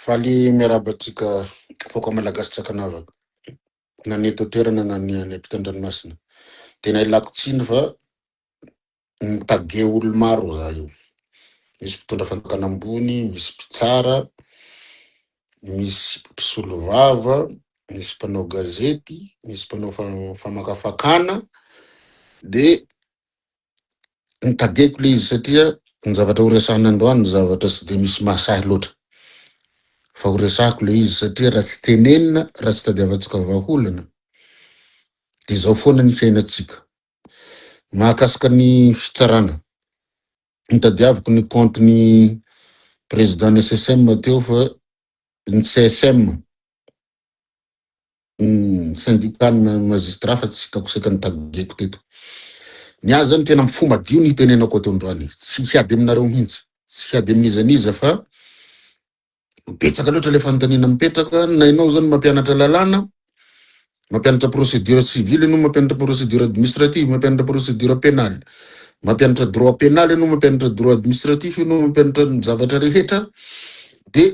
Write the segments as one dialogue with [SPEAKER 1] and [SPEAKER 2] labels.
[SPEAKER 1] Faly miarahaba antsika vahoaka malagasy tsy ankanavaka na ny eto an-toerana na ny any ampita an-dranomasina. Tena ilako tsiny fa mitage olo maro za io. Misy mpitondra fanjakana ambony, misy mpitsara, misy mpisolovava, misy mpanao gazety, misy mpanao famakafakana dia Notadiako ilay izy satria ny zavatra horesahana androany zavatra tsy dia misy mahasahy loatra. Fa horesahako ilay izy satria raha tsy tenenina, raha tsy tadiavantsika vahaolana dia izao foana ny fiainantsika. Mahakasika ny fitsarana. Nitadiaviko ny compte ny président ny SSM teo fa ny CSM Ny sendikana magistrat fa tsy kakoseka notageko teto. Ny ahy zany tena fo madio ny hitenenako ato androany. Tsy hiady aminareo mihintsy. Tsy hiady amin'iza n'iza fa betsaka loatra ilay fanontaniana mipetraka na ianao zany mampianatra lalàna, mampianatra procédure civile ianao, mampianatra procédure administrative, mampianatra procédure pénale, mampianatra droit pénal ianao, mampianatra droit administratif ianao, mampianatra ny zavatra rehetra dia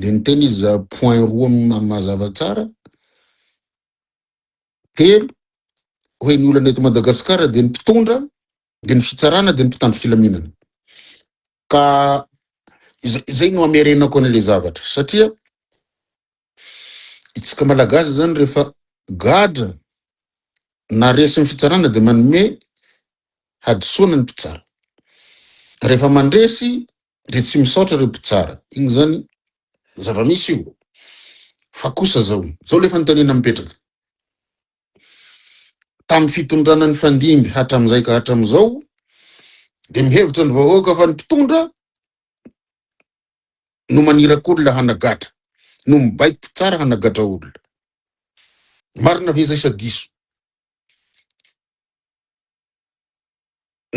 [SPEAKER 1] dia niteny izy za point roa ma- mazava tsara telo hoe ny olana eto madagasikara dia ny mpitondra dia ny fitsarana dia ny mpitandro filaminana ka iza- izay no amerenako an'le zavatra satria itsika malagasy zany rehefa gadra na resin'ny fitsarana dia manome hadisoana ny mpitsara rehefa mandresy dia tsy misaotra ireo mpitsara, inona izany? zava-misy io, fa kosa zao, zao ilay fanontaniana mipetraka, tamin'ny fitondrana nifandimby hatramin'izay ka hatramin'izao dia mihevitra ny vahoaka fa ny mpitondra no maniraka olona hanagatra, no mibaiko mpitsara hanagatra olona. Marina ve izay sa diso?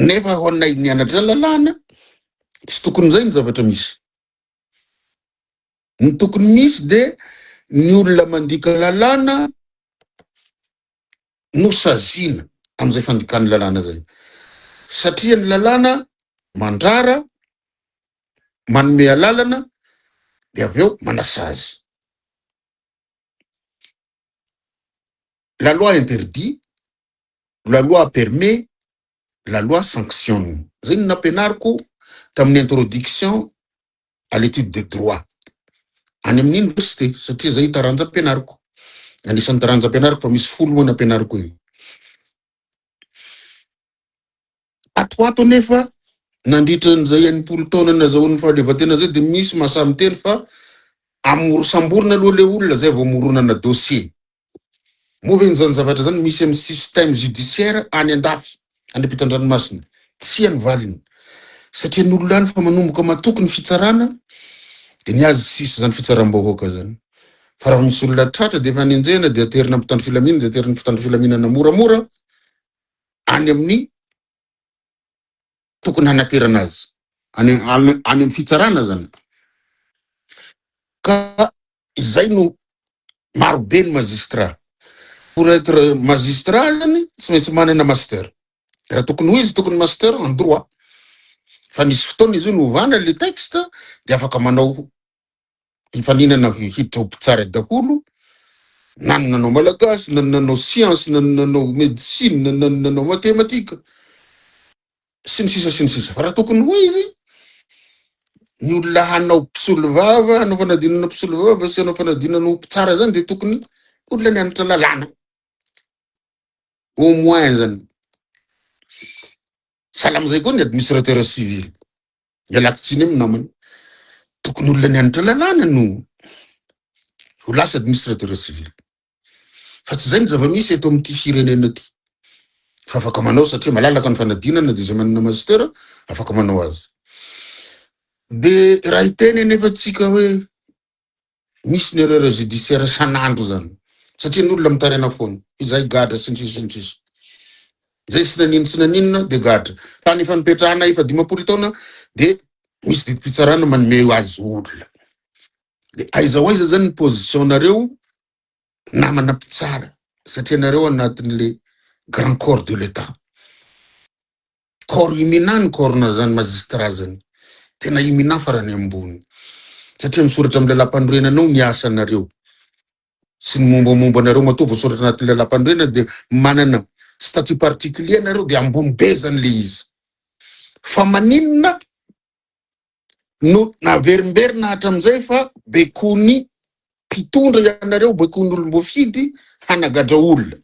[SPEAKER 1] Nefa ho anay nianatra lalàna, tsy tokony izay ny zavatra misy. Ny tokony misy dia ny olona mandika lalàna no saziana amin'izay fandikana lalàna izay. Satria ny lalàna mandrara, manome alalana dia avy eo manasazy. la loi interdit, la loi permet, la loi sanctionne. Zay no nampianariko tamin'ny introduction à l'étude de droit. Any amin'ny université satria zay taranja ampianariko. Anisan'ny taranja ampianariko fa misy folo moa nampianariko iny. Ato ho ato anefa, nandritra an'izay enimpolo taona nazahoan'ny fahaleovantena izay dia misy mahasahy miteny fa amoro samborina aloha ilay olona izay vao moronana dossier. Moa ve izany zavatra izany misy amin'ny système judiciaire any andafy, any ampitan-dranomasina? Tsia ny valiny. Satria ny olona any efa manomboka matoky ny fitsarana dia ny azy sisa izany fitsaram-bahoaka izany. Fa raha misy olona tratra dia efa nenjehina dia aterina ampitandro filaminana dia aterin'ny mpitandro filaminana moramora any amin'ny tokony hanaterana azy any any amin'ny fitsarana zany ka izay no maro be ny magistrat pour être magistrat zany tsy maintsy manana master raha tokony ho izy tokony master en droit fa nisy fotoana izy io novana le texte dia afaka manao hifaninana hidrobo tsara daholo na ny nanao malagasy na ny nanao siansy na ny nanao medisina na ny nanao matematika sy ny sisa sy ny sisa fa raha tokony ho izy ny olona hanao mpisolo vava hanao fanadinana mpisolo vava sy hanao fanadinana ho mpitsara zany dia tokony olona nianatra lalàna au moins zany salamizay koa ny administrateur civil Ialako tsiny amin'ny namana. Tokony olona nianatra lalàna no ho lasa administrateur civil. Fa tsy izay ny zava-misy eto amin'ity firenena ity. Fa afaka manao satria malalaka ny fanadinana dia izay manana master afaka manao azy. Dia raha hiteny anefa tsika hoe misy ny erreur judiciaire san'andro zany satria ny olona mitaraina foana izay gadra sy ny sisa sy ny sisa zay tsy naninona tsy naninona de gadra tany efa nipetrahana efa dimampolo taona de misy didim-pitsarana manome azy olona de aiza ho aiza zany ny position nareo namana mpitsara satria nareo anatin'le grand corps de l'état Corps i Minà ny corps na zany magistrat zany. Tena i Minà farany ambony. Satria misoratra amin'ny lalampanorenana ao ny asanareo sy ny mombamomba anareo matoa voasoratra anatin'ny lalampanorenana dia manana statut particulier nareo dia ambony be zany le izy. Fa maninona no naverimberina hatramin'izay fa bekony mpitondra ianareo, bekony olom-boafidy hanagadra olona.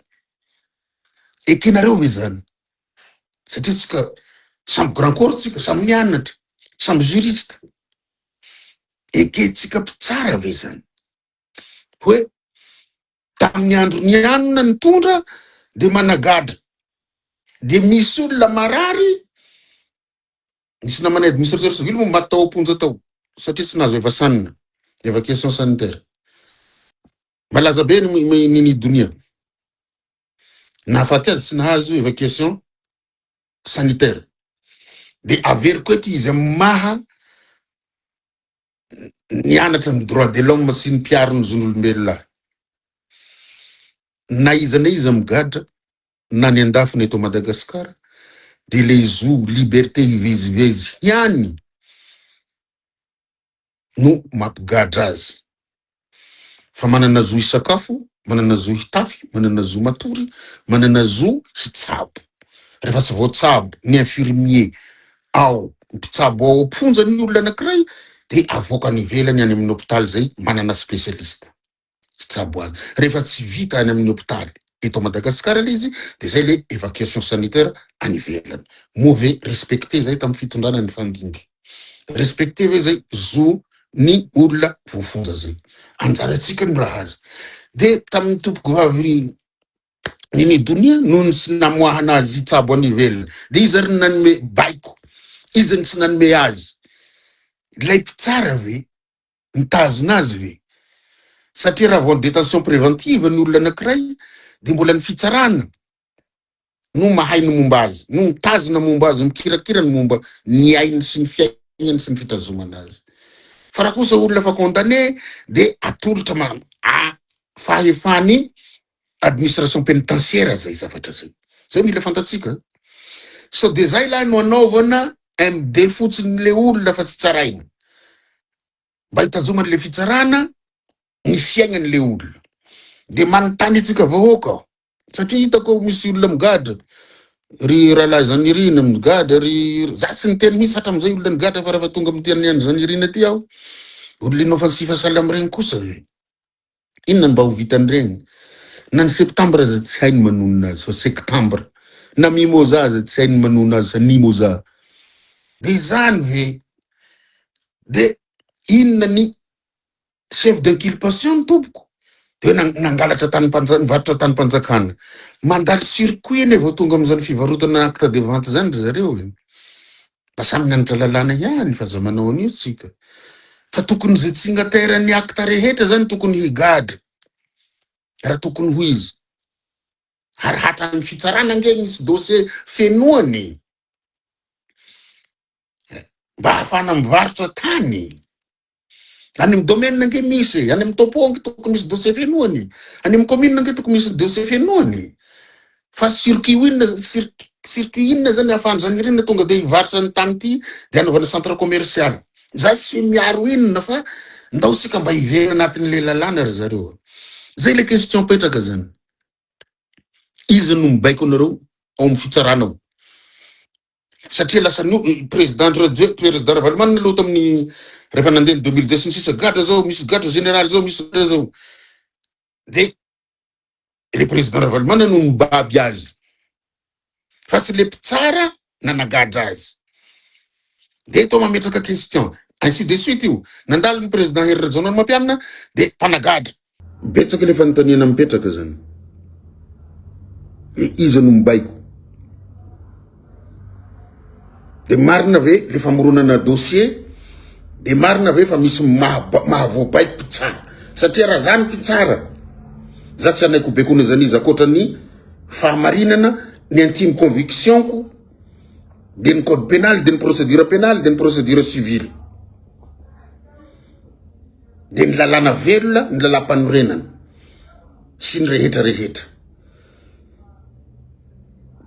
[SPEAKER 1] Ekenareo ve izany? Satria tsika samy grand corps tsika, samy nianatra, samy juriste. Ekentsika mpitsara ve izany? Hoe tamin'ny andro nianona nitondra dia managadra. Dia misy olona marary Nisy namanay administrateur civil moa maty tao am-ponja tao satria tsy nahazo evasanina, évacuation sanitaire. Malaza be ny ny- ny ny donia. Nahafaty azy tsy nahazo évacuation sanitaire. Dia averiko eto izy amin'ny maha nianatra ny droit de l'homme sy ny mpiaro ny zon'olombelona. Na iza na iza migadra na ny an-dafiny eto Madagasikara dia ilay zo liberté hivezivezy ihany no mampigadra azy fa manana zo hisakafo, manana zo hitafy, manana zo matory, manana zo hitsabo rehefa tsy voatsabo ny infirmier ao mpitsabo ao am-ponja ny olona anankiray dia avoaka any ivelany any amin'ny hôpital izay manana spécialiste. hitsabo azy. Rehefa tsy vita any amin'ny hopitaly eto Madagasikara ilay izy dia izay ilay evacuation sanitaire any ivelany. Moa ve respecter izay tamin'ny fitondrana nifandimby? Respecter ve izay zo ny olona voafonja izay? Anjarantsika no raha azy. Dia tamin'ny tompokovavy Mimi Donia noho ny tsy namoahana azy hitsabo any ivelany dia iza ary ny nanome baiko? Iza ny tsy nanome azy? Ilay mpitsara ve? mitazona azy ve? Satria raha vao ny détention préventive ny olona anankiray dia mbola ny fitsarana no mahay ny momba azy, no mitazona ny momba azy, mikirakira ny momba ny ainy sy ny fiainany sy ny fitazomana azy. Fa raha kosa olona efa condamné dia atolotra fahefany administration penitentiaire zay zavatra zay, zay mila fantatsika sao de zay lahy no anaovana MD fotsiny le olona fa tsy tsaraina mba hitazomany le fitsarana ny fiaignany le olona de manontany antsika vahoaka aho satria hitako ao misy olona migadra ry rahalahy Zanirina migadra ry za tsy niteny mihitsy hatramizay olona nigadra fa raha fa tonga amity an'i Zanirina ty aho olona inoffensive salam regny kosa e Inona no mba ho vitan'ireny? Na ny septambra aza tsy hay ny manonona azy fa sektambra, na mimoza aza tsy hay ny manonona azy fa nimoza. Dia izany ve? Dia inona ny chef d'inculpation ny tompoko? Dia hoe nangalatra tany mpanjakana, nivarotra tany mpanjakana. Mandalo circuit anie vao tonga amin'izany fivarotana acte de vente izany ry zareo e! Mba samy mianatra lalàna ihany fa za manao an'io tsika fa tokony ze tsignataire ny acte rehetra zany tokony higadra raha tokony ho izy ary hatran'ny fitsarana ange misy dossier fenoany mba hahafahana mivarotra tany Any amin'ny domaine ange misy e, any amin'ny topo ange tokony misy dossier fenoany, any amin'ny commune ange tokony misy dossier fenoany. Fa circuit inona cir- circuit inona zany ahafahan'izany irina tonga dia hivarotra ny tany ity dia anaovana centre commercial. Za tsy miaro inona fa ndao sika mba hiverina anatin'ilay lalàna ry zareo. Zay ilay question petraka zany. Iza no mibaiko anareo ao amin'ny fitsarana ao? satria lasa no président Rajwe président Ravalomanana aloha tamin'ny rehefa nandeha ny 2002 sy ny sisa gadra zao misy gadra général zao misy gadra zao de le président Ravalomanana no mibaby azy fa tsy le mpitsara nanagadra azy de to mametraka question ainsi de suite io nandalo ny président Hery Rajaonarimampianina de mpanagadra Betsaka le fanontaniana mipetraka zany. Dia iza no mibaiko? Dia marina ve le famoronana dossier? Dia marina ve fa misy mahavoabaiko mpitsara? Satria raha zany mpitsara, za tsy anaiko bekona zany izy akoatra ny fahamarinana, ny intime conviction-ko, dia ny code pénal, dia ny procédure pénale, dia ny procédure civile. dia ny lalàna velona, ny lalàmpanorenana sy ny rehetra rehetra.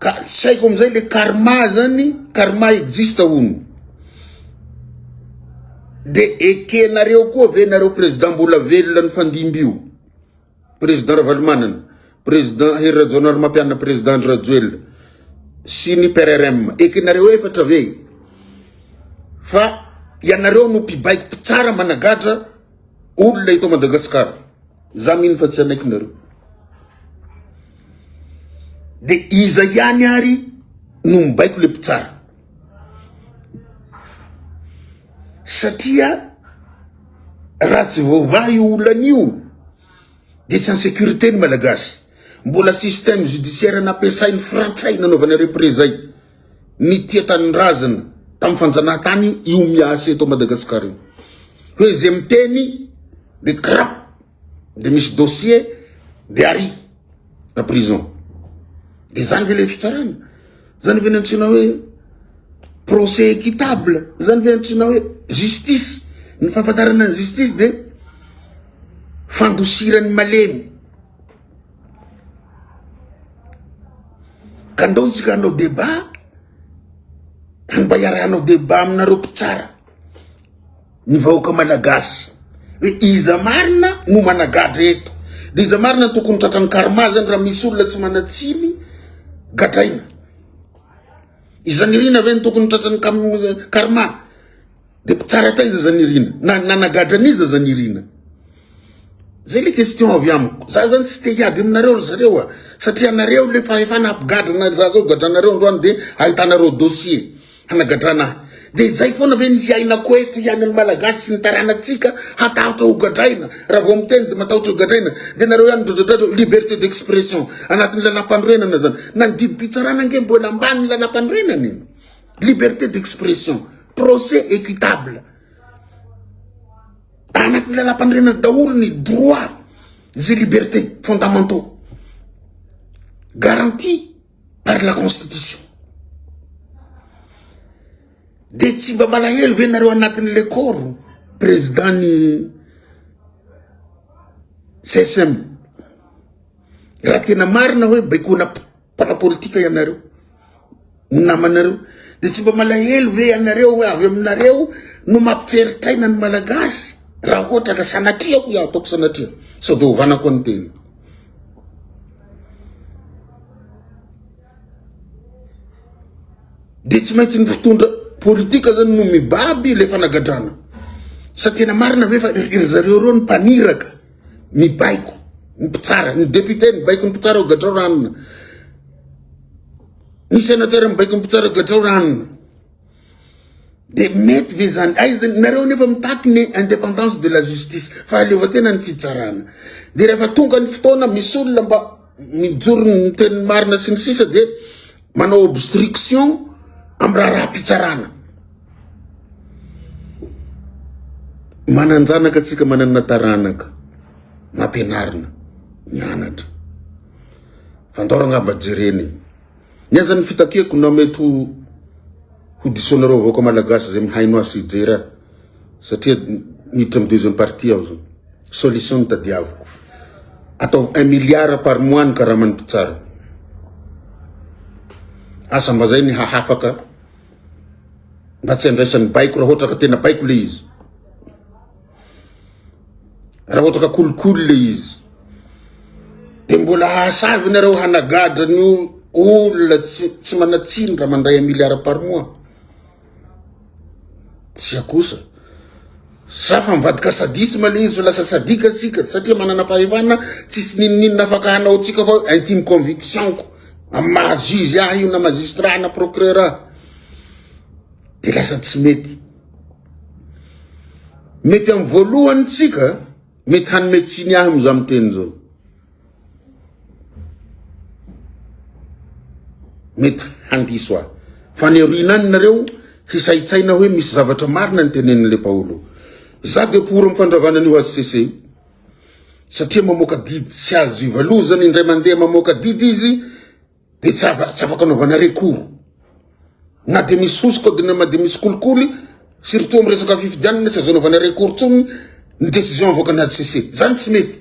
[SPEAKER 1] Ka tsy haiko amin'izay le karma zany, karma existe hono. Dia ekenareo koa ve nareo président mbola velona ny fandimby io? Président Ravalomanana, Président Hery Rajaonarimampianina, Président Andry Rajoelina sy ny PRRM. Ekenareo efatra ve fa ianareo no mpibaiko mpitsara managadra olona eto Madagasikara. Za mino fa tsy anaikinareo. De iza ihany ary no mibaiko le mpitsara. satria raha tsy voavaha io olana io dia tsy insecurité ny malagasy mbola système judiciaire nampiasain'ny frantsay nanaovana reprezay ny tia tanindrazana tamin'ny fanjanahantany io miasa eto Madagasikara io hoe izay miteny dia crap de misy dossier de ary na prison de zany ve le fitsarana zany ve ny antsoina hoe procès équitable zany ve antsoina hoe justice ny fahafantarana ny justice de fandosiran'ny malemy ka ndaontsika hanao débat mba hiarahanao débat aminareo mpitsara ny vahoaka malagasy hoe iza marina no managadra eto de iza marina tokony tratran'ny karma zany raha misy olona tsy manatsiny gadraina izany irina ve ny tokony tratran'ny karma de mpitsara taiza zany irina na nanagadra an'iza zany irina zay le question avy amiko za zany tsy te hiady aminareo ry zareo a satria anareo le fahefana ampigadrana za zao gadranareo androany de ahitanareo dossier Hanagadrana ahy. Dia izay foana ve ny hiainako eto, hiainan'ny Malagasy sy ny taranatsika, hatahotra ho gadraina, raha vao miteny dia matahotra ho gadraina, dia nareo ihany midradradradrao, liberté d'expression, anatin'ny lalam-panorenana zany, na ny didim-pitsarana ange mbola ambanin'ny lalam-panorenana e, liberté d'expression, procès équitable, anatin'ny lalam-panorenana daholo ny droit, zay liberté fondamentaux, garantie. par la constitution de tsy mba malahelo ve nareo anatin'ny lekoro président ny csm raha tena marina hoe baikona mpanao politika ianareo ny namanareo de tsy mba malahelo ve ianareo hoe avy aminareo no mampiferitaina ny malagasy raha ohatra ka sanatria ko iaho ataoko sanatria sao de hovanako ny tena Dia tsy maintsy ny fitondra politika zany no mibaby le fanagadrana. Sa tena marina ve fa ry zareo reo ny mpaniraka, ny baiko, ny mpitsara, ny député ny baiko ny mpitsara ao gadrao ranona. Ny sénateur ny baiko ny mpitsara ao gadrao ranona. Dia mety ve zany? Aiza nareo nefa mitaky ny indépendance de la justice, fahaleovantena ny fitsarana. Dia rehefa tonga ny fotoana misy olona mba mijoro ny teny marina sy ny sisa dia manao obstruction amin'ny raharaham-pitsarana. Manan-janaka antsika manana taranaka nampianarina mianatra. Fandaorana mba jerena e. Ny aza ny fitakiako na mety ho ho disoanareo vahoaka malagasy izay mihaino ahy sy hijery ahy satria miditra amin'ny deuxième partie aho zany. Solution ny tadiaviko. Ataovy un milliard par mois ny karaman'ny mpitsara. Asa mba zay ny hahafaka mba tsy andraisan'ny baiko raha ohatra ka tena baiko le izy. Raha ohatra ka kolikoly le izy, de mbola hasavy nareo hanagadra ny olona tsy manatsiny raha mandray un milliard par mois? Tsia kosa, sa fa mivadika sadisme le izy, lasa sadika tsika satria manana fahefana, tsisy ninoninona afaka hanao tsika fa intime conviction-ko amin'ny maha juge ahy io na magistrat na procureur ahy, de lasa tsy mety. Mety amin'ny voalohany tsika mety hanome tsiny ahy amin'izao miteny izao. Mety handiso ahy. Fa ny aoriana any nareo hisaitsaina hoe misy zavatra marina ny tenenin'ilay Paolo. Za dia pour amin'ny fandravana an'io HCC io. Satria mamoaka didy tsy azo ivalozana indray mandeha mamoaka didy izy de tsy afaka anaovana recours na de misy sousy code de nama de misy kolikoly surtout am resaka fifidianana tsy azo anaovana recours tsony ny décision avoakany HCC zany tsy mety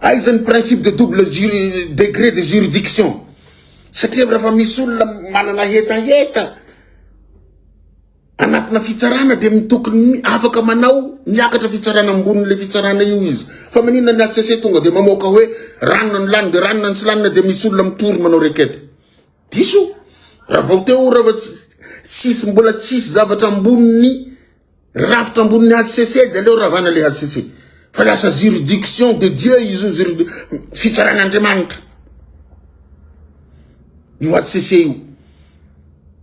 [SPEAKER 1] aiza ny principe de double degré de juridiction satria rafa misy olona manana hetaheta Anatina fitsarana dia mitokony afaka manao miakatra fitsarana ambonin'ilay fitsarana io izy. Fa maninona ny HCC tonga dia mamoaka hoe ranona no lany dia ranona no tsy lanina dia misy olona mitory manao requête. Diso. Raha vao teo raha vao tsisy mbola tsisy zavatra ambonin'ny rafitra ambonin'ny HCC dia aleo ravana le HCC. Fa lasa juridiction de Dieu izy io fitsaran'Andriamanitra. Io HCC io.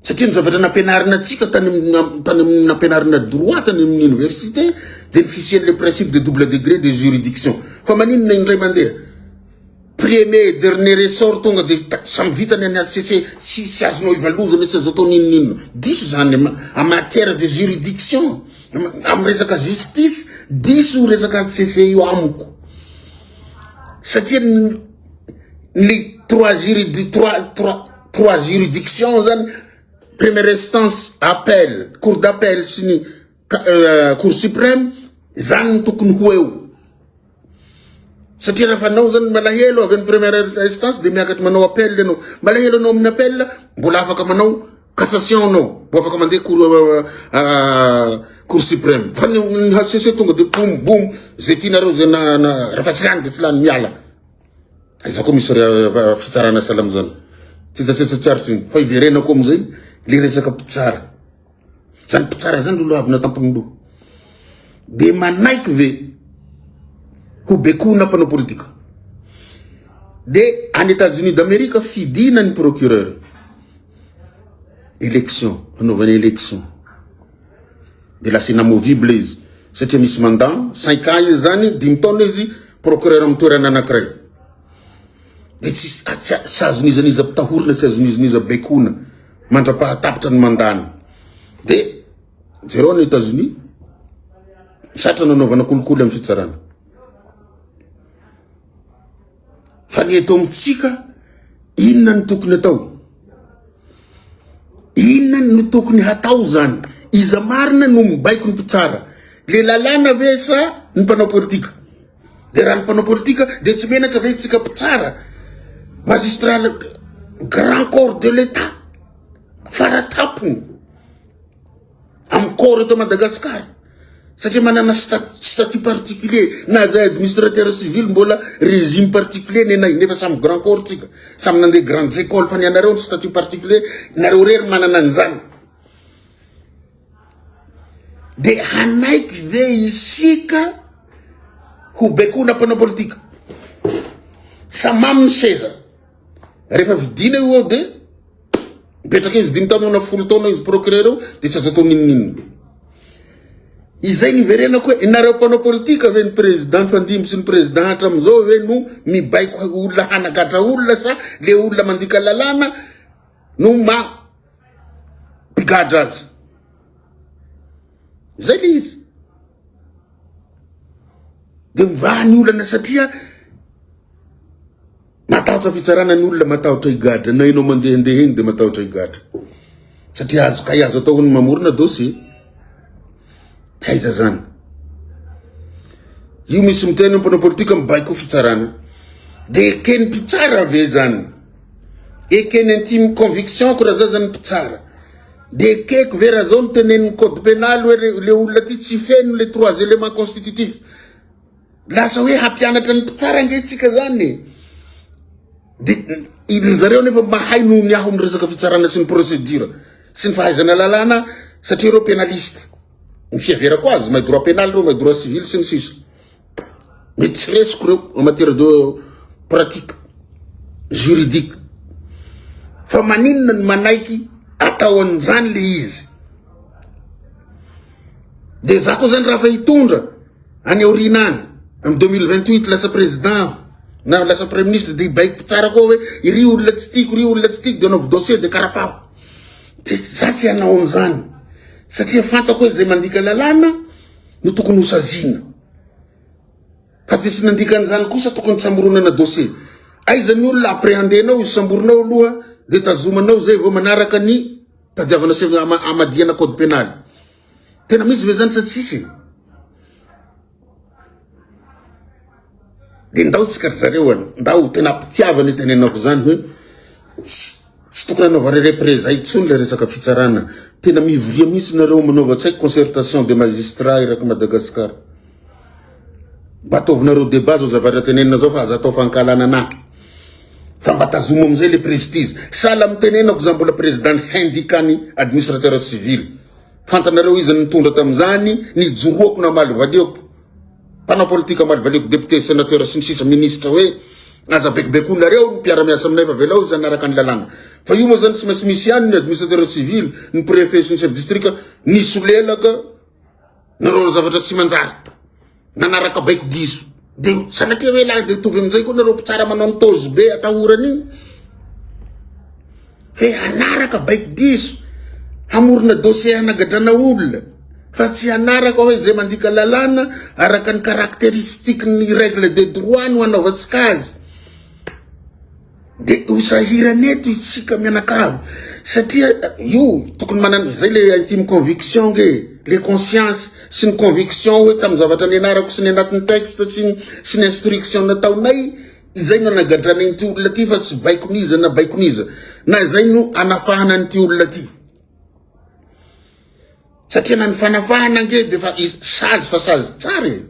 [SPEAKER 1] Satria ny zavatra nampianarina antsika tany amin'ny tany amin'ny nampianarina droit tany amin'ny université dia ny fisian'ilay principe de double degré de juridiction fa maninona indray mandeha premier et dernier ressort tonga dia ta- samy vitany any HCC sy tsy azonao ivalozana tsy azo atao n'inon'inona diso izany ama- en matière de juridiction am- amin'ny resaka justice diso io resaka HCC io amiko satria ny ny trois juridic trois trois trois juridiction zany première instance appel cour d'appel sy ny euh, cour suprême zany ny tokony ho eo satria rehefa anao zany malahelo avy any première instance de miakatra manao appel ianao malahelo anao amin'ny appel mbola afaka manao Cassation no vao afaka mandeha cour cour supreme fa ny ny HCC tonga de boum boum zay tianareo zay na na rehefa tsy lany de tsy lany miala aiza koa misy re- fitsarana salam zany tsetsatsetsatsarotry ny fa iverenako amizay le resaka mpitsara zany mpitsara zany lolo avy natampony loha de manaiky ve ho bekoina mpanao politika de any Etats-Unis d'Amerique fidina ny procureur élection hanaovana élection de lasa inamovible izy satria misy mandat cinq ans izy zany dimy taona izy procureur amin'ny toerana anankiray de tsy tsy azony iza n'iza mpitahorina tsy azony iza n'iza baikona mandra-pahatapitra ny mandat-ny de jereo any États-Unis zatra nanaovana kolikoly amin'ny fitsarana Fa ny eto amintsika, inona no tokony atao? Inona no tokony hatao zany? Iza marina no mibaiko ny mpitsara? Le lalàna ve sa ny mpanao politika? De raha ny mpanao politika de tsy menatra ve tsika mpitsara? Magistrat grand corps de l'État faratampony. amin'ny corps eto Madagascar satria manana statut particulier na zay administrateur civil mbola régime particulier ny anay nefa samy grand corps tsika samy nandeha grandes écoles fa ny anareo ny statut particulier nareo rery manana an'izany de hanaiky ve isika ho baikona mpanao politika samamy ny seza Rehefa vidina io ao dia mipetraka izy dimy taona na folo taona izy procureur eo dia tsy azo atao ninoninona. Izay niverenako hoe nareo mpanao politika ve ny président fandimby sy ny président hatramin'izao ve no mibaiko olona hanagatra olona sa le olona mandika lalàna no ma mpigadra azy. Izay le izy. Dia mivaha ny olana satria Matahotra fitsarana ny olona, matahotra higadra, na ianao mandehandeha eny dia matahotra higadra. Satria azo kay azo atao ny mamorona dossier. Taiza zany? Io misy miteny ny mpanao politika mibaiko fitsarana. Dia eken'ny mpitsara ve zany? Eken'ny intime conviction ko raha zao zany mpitsara. Dia ekeko ve raha zao ny tenen'ny code pénal hoe le olona ty tsy feno le trois éléments constitutifs. Lasa hoe hampianatra ny mpitsara ange tsika zany e. De izy zareo nefa mahay noho ny aho miresaka fitsarana sy ny procédure sy ny fahaizana lalàna satria ireo pénaliste. Ny fiheverako azy, mahay droit pénal ireo, mahay droit civil sy ny sisa. Mety tsy resiko ireo en matière de pratique juridique. Fa maninona ny manaiky atao an'izany le izy? De za koa zany raha fa hitondra Any aoriana any, amin'ny 2028 lasa président aho na lasa praiministra dia hibaiko mpitsara koa hoe iry olona tsy tiako, iry olona tsy tiako dia anaovy dossier dia karapaho. Dia za tsy hanao an'izany satria fantako hoe izay mandika lalàna no tokony hosaziana. Fa tsy nandika an'izany kosa tokony tsy hamoronana dossier. Aiza ny olona appréhendenao, isamborinao aloha dia tazomanao izay vao manaraka ny tadiavana sy hamadihana code pénal. Tena misy ve zany sa tsisy e? De ndao tsika ry zareo an, ndao tena ampitiavana io tenenako zany hoe tsy tokony anaovare repreza intsony le resaka fitsarana. Tena mivoria mihitsy nareo manaova tsy haiko concertation de magistrat eraky Madagascar. Mba ataovinareo debat zao zavatra tenenina zao fa aza atao fankahalana anah. Fa mba tazomo amizay le prestige. Sahala am tenenako za mbola président ny syndicat ny administrateur civil. Fantanareo izy nitondra tamin'izany, nijoroako namaly valiako. Mpanao politika maly valiako, député, sénateur sy ny sisa ministre hoe aza bekobekoinareo ny mpiara-miasa aminay fa velao izy hanaraka ny lalàna. Fa io moa izany tsy maintsy misy ihany ny administrateur civil, ny préfet sy ny chef district nisolelaka Nareo zavatra tsy manjary nanaraka baiko diso de sanatria hoe lahy de tovy amizay koa nareo mpitsara manao ny tozy be atahorany iny hoe hanaraka baiko diso hamorona dossier hanagadrana olona fa tsy hanaraka hoe zay mandika lalàna araka ny caractéristique ny règle de droit no hanaovantsika azy De ho sahirana eto isika mianakavy satria io tokony manana izay le intime conviction nge le conscience sy ny conviction hoe tamin'ny zavatra nianarako sy ny anatin'ny texte sy ny sy ny instruction nataonay izay no anagadranay ity olona ty fa tsy baikoniza na baikoniza na izay no anafahana an'ity olona ty Satria na ny fanafahana ange dia efa sazy fa sazy tsara e.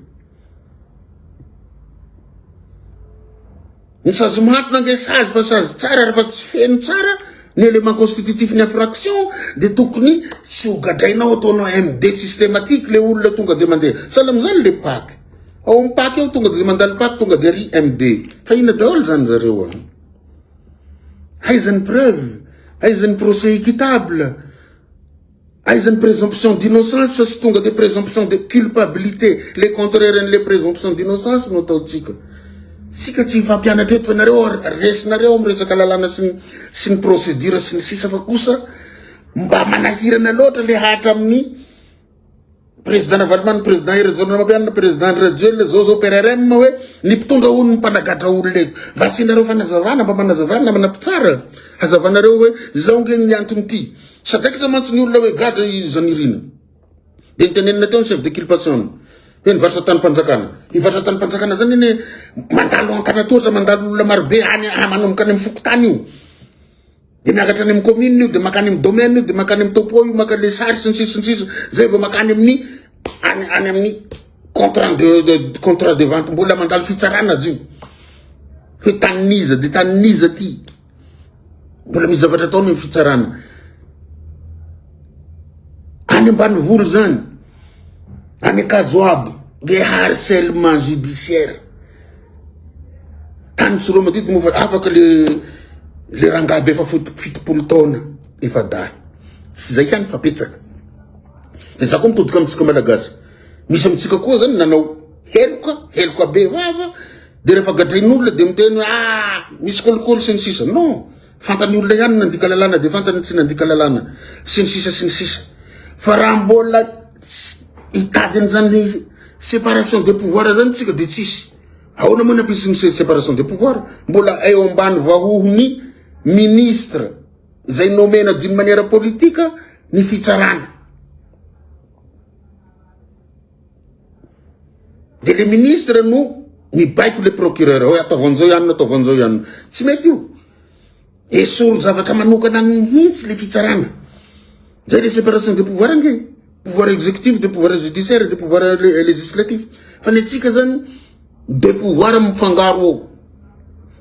[SPEAKER 1] Ny sazy mahatona ange sazy fa sazy tsara rehefa tsy feno tsara ny élément constitutif ny infraction dia tokony tsy hogadrainao ataonao MD systématique le olona tonga dia mandeha. Sahala amin'izany le paky. Ao amin'ny paky eo tonga dia mandalo paky tonga dia ry MD. Fa inona daholo izany zareo an? Haizan'ny preuve, haizan'ny procès équitable. Aiza ny présomption d'innocence sy tonga dia présomption de culpabilité, le contraire an'ilay présomption d'innocence no ataontsika. Tsika tsy hifampianatra eto fa nareo resinareo amin'ny resaka lalàna sy ny sy ny procédure sy ny sisa fa kosa mba manahirana loatra le hatra amin'ny Président Ravalomanana, Président Hery Rajaonarimampianina, Président Andry Rajoelina, zao zao PRRM hoe ny mpitondra hono ny mpanagatra olona eto. Mba asianareo fanazavana, mba manazavana namana mpitsara. Hazavanareo hoe izao nge ny antony ity. Sadaikatra mantsy ny olona hoe gadra i Zanirina. Dia nitenenina teo ny chef de culpation. Hoe ny varotra tany mpanjakana. Ny varotra tany mpanjakana zany anie mandalo ankanatohatra, mandalo olona marobe any manomboka any amin'ny fokontany io. Dia miakatra any amin'ny commune io, dia makany amin'ny domaine io, dia makany amin'ny topo io, makany le sary sy ny sisa sy ny sisa, zay vao makany amin'ny any any amin'ny contrat de, de contrat de vente mbola mandalo fitsarana azy io. Hoe tanin'iza dia tanin'iza ty. Mbola misy zavatra ataony amin'ny fitsarana. Any ambanivolo zany, any Kajoabo, dia harcèlement judiciaire. Tany tsy romantidy moa fa afaka le le rangahy be efa fitopolo taona efa dahy. Tsy zay ihany fa betsaka. De za koa mitodika amintsika malagasy. Misy amintsika koa zany nanao heloka, heloka be vava de rehefa gadrain'olona de miteny hoe ah misy kolikoly sy ny sisa. Non, Fantan'ny olona ihany ny nandika lalàna dia fantany ny tsy nandika lalàna sy ny sisa sy ny sisa. Fa raha mbola hitady an'izany séparation des pouvoirs zany tsika dia tsisy. Ahoana moa ny ampisin'ny séparation des pouvoirs? Mbola eo ambany vahohon'ny ministre izay nomena d'une manière politique ny fitsarana. Dia le ministre no mibaiko le procureur hoe ataovy an'izao ihany na ataovy an'izao ihany. Tsy mety io. Esory zavatra manokana mihitsy le fitsarana. Zay le séparation de pouvoir ange. Pouvoir exécutif de pouvoir judiciaire de pouvoir législatif. Fa ny antsika zany Be pouvoir mifangaro ao.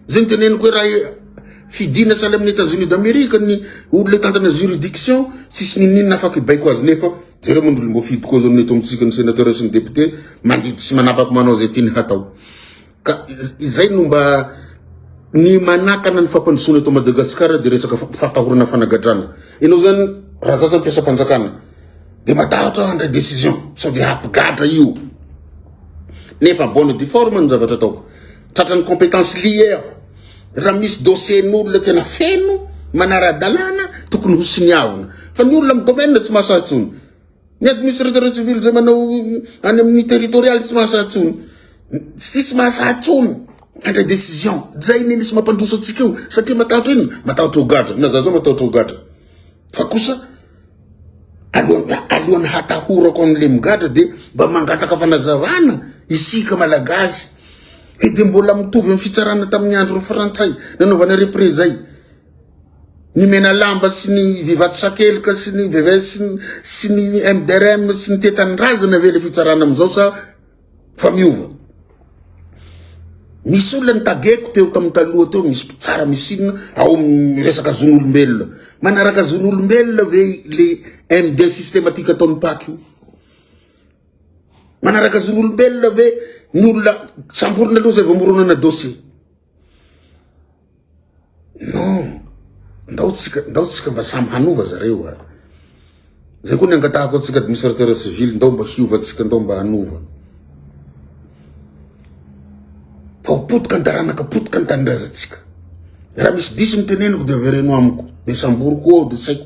[SPEAKER 1] Zay niteneniko hoe raha fidina sahala amin'ny Etats Unis d'Amerique ny olona hitantana juridiction, tsisy ninoninona afaka hibaiko azy nefa jereo moa ny olom-boafidy koa zao ny eto amintsika ny senateur sy ny député mandidy sy manapaka manao zay tiany hatao. Ka izay no mba ny manakana ny fampandrosoana eto Madagascar dia resaka fampitahorana fanagadrana. Ianao zany raha za zany mpiasam-panjakana dia matahotra aho handray décision sao dia hampigadra io. nefa bonne et due forme ny zavatra ataoko tratra ny compétence lier raha misy dossier n'olona tena feno manara-dalàna tokony ho siniavina fa ny olona amin'ny domaine tsy mahasahy intsony ny administrateur civil zay manao any amin'ny territorial tsy mahasahy intsony tsisy mahasahy intsony mandray décision zay ny nisy mampandroso antsika io satria matahotra inona matahotra ho gadra na za zao matahotra ho gadra Fa kosa alohan'ny alohan'ny hatahorako an'i Lemigadra dia mba mangataka fanazavana isika Malagasy e dia mbola mitovy amin'ny fitsarana tamin'ny andron'ny Frantsay nanaovana repre zay ny Menalamba sy ny Vivato Sakelika sy ny VVS sy ny MDRM sy ny Tetanindrazana ve le fitsarana amin'izao sa fa miova. Misy olona nitageko teo tamin'ny taloha teo, misy mpitsara misinina ao amin'ny resaka zon'olombelona. Manaraka zon'olombelona ve le MD systématique ataon'ny paky io? Manaraka zon'olombelona ve ny olona samborina aloha zay vao moronana dossier? non ndao tsika ndao tsika mba samy hanova zareo a zay koa ny angatahako atsika administrateur civil ndao mba hiova tsika ndao mba hanova fa ho potika ny taranaka potika ny tanindrazantsika raha misy diso ny teneniko de avereno amiko de samboriko ao de saiko